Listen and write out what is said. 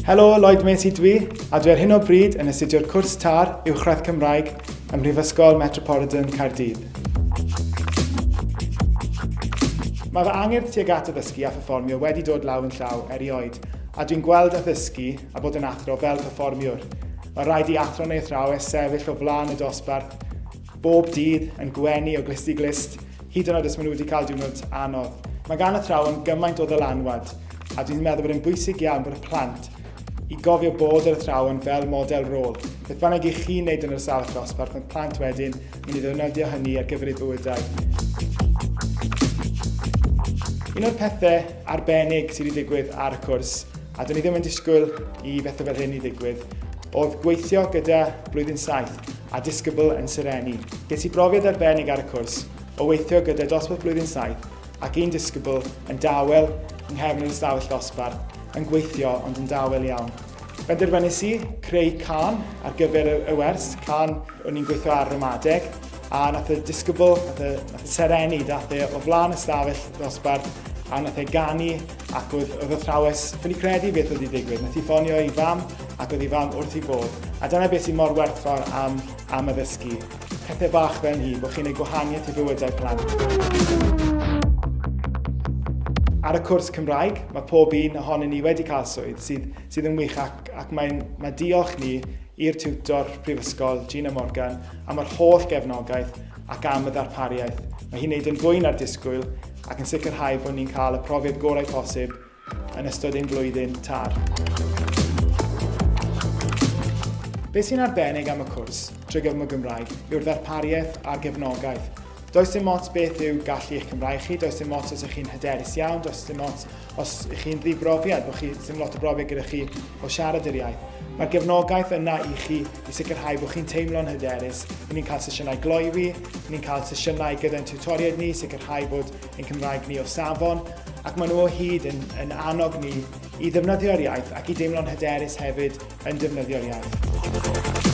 Helo, Lloyd Macy dwi, a dwi ar hyn o bryd yn astudio'r cwrs TAR Uwchradd Cymraeg ym Mhrifysgol Metropolitan Caerdydd. Mae fy angerdd tuag at addysgu a pherfformio wedi dod law yn llaw erioed, a dwi'n gweld addysgu a bod yn athro fel performiwr. Mae rhaid i athro neu athrawes sefyll o flaen y dosbarth bob dydd yn gwenu o glust i glust, hyd yn oed os maen nhw wedi cael diwrnod anodd. Mae gan athrawon gymaint o ddylanwad, a dwi'n meddwl bod e'n bwysig iawn bod y plant i gofio bod yr athrawon fel model rôl. Beth bynnag i chi wneud yn yr ystafell ddosbarth, mae plant wedyn mynd i ddefnyddio hynny ar gyfer eu bywydau. Un o'r pethau arbennig sydd wedi digwydd ar y cwrs A do'n i ddim yn disgwyl i bethau fel hyn i ddigwydd. Oedd gweithio gyda Blwyddyn Saith a Disgybl yn Sereni. Ges i brofiad arbennig ar y cwrs o weithio gyda dosbarth Blwyddyn Saith ac un disgybl yn dawel yng nghefn yr ystafell ddosbarth yn gweithio ond yn dawel iawn. Benderfynais i creu can ar gyfer y wers, can o'n i'n gweithio ar ramadeg, a nath y disgybl, nath y, nath y sereni, dath e o flaen ystafell ddosbarth a nath e ganu Ac oedd, oedd athrawes ffili credu beth oedd wedi digwydd. Nath i ffonio i fam ac oedd i fam wrth i bod. A dyna beth sy'n mor werthfawr am, am addysgu. Pethau bach fel hi, bod chi'n ei gwahaniaeth i bywydau plant. Ar y cwrs Cymraeg, mae pob un ohonyn ni wedi cael swydd sydd, sydd yn wych ac, ac mae, mae diolch ni i'r tiwtor prifysgol Gina Morgan am yr holl gefnogaeth ac am y ddarpariaeth. Mae hi'n neud yn fwy na'r disgwyl ac yn sicrhau bod ni'n cael y profiad gorau posib yn ystod ein blwyddyn tar. Beth sy'n arbennig am y cwrs trwy gyfrwng y Gymraeg yw'r ddarpariaeth a'r gefnogaeth. Does dim ots beth yw gallu eich Cymraeg chi, does dim ots os ych chi'n hyderus iawn, does dim ots os ych chi'n ddibrofiad, bod chi ddim lot o brofiad gyda chi o siarad yr iaith. Mae'r gefnogaeth yna i chi i sicrhau bod chi'n teimlo'n hyderus. Ry'n ni'n cael sesiynau gloywi, ry'n ni'n cael sesiynau gyda'n tiwtoriaid ni, sicrhau bod ein Cymraeg ni o safon, ac maen nhw o hyd yn, yn annog ni i ddefnyddio'r iaith ac i deimlo'n hyderus hefyd yn defnyddio'r iaith.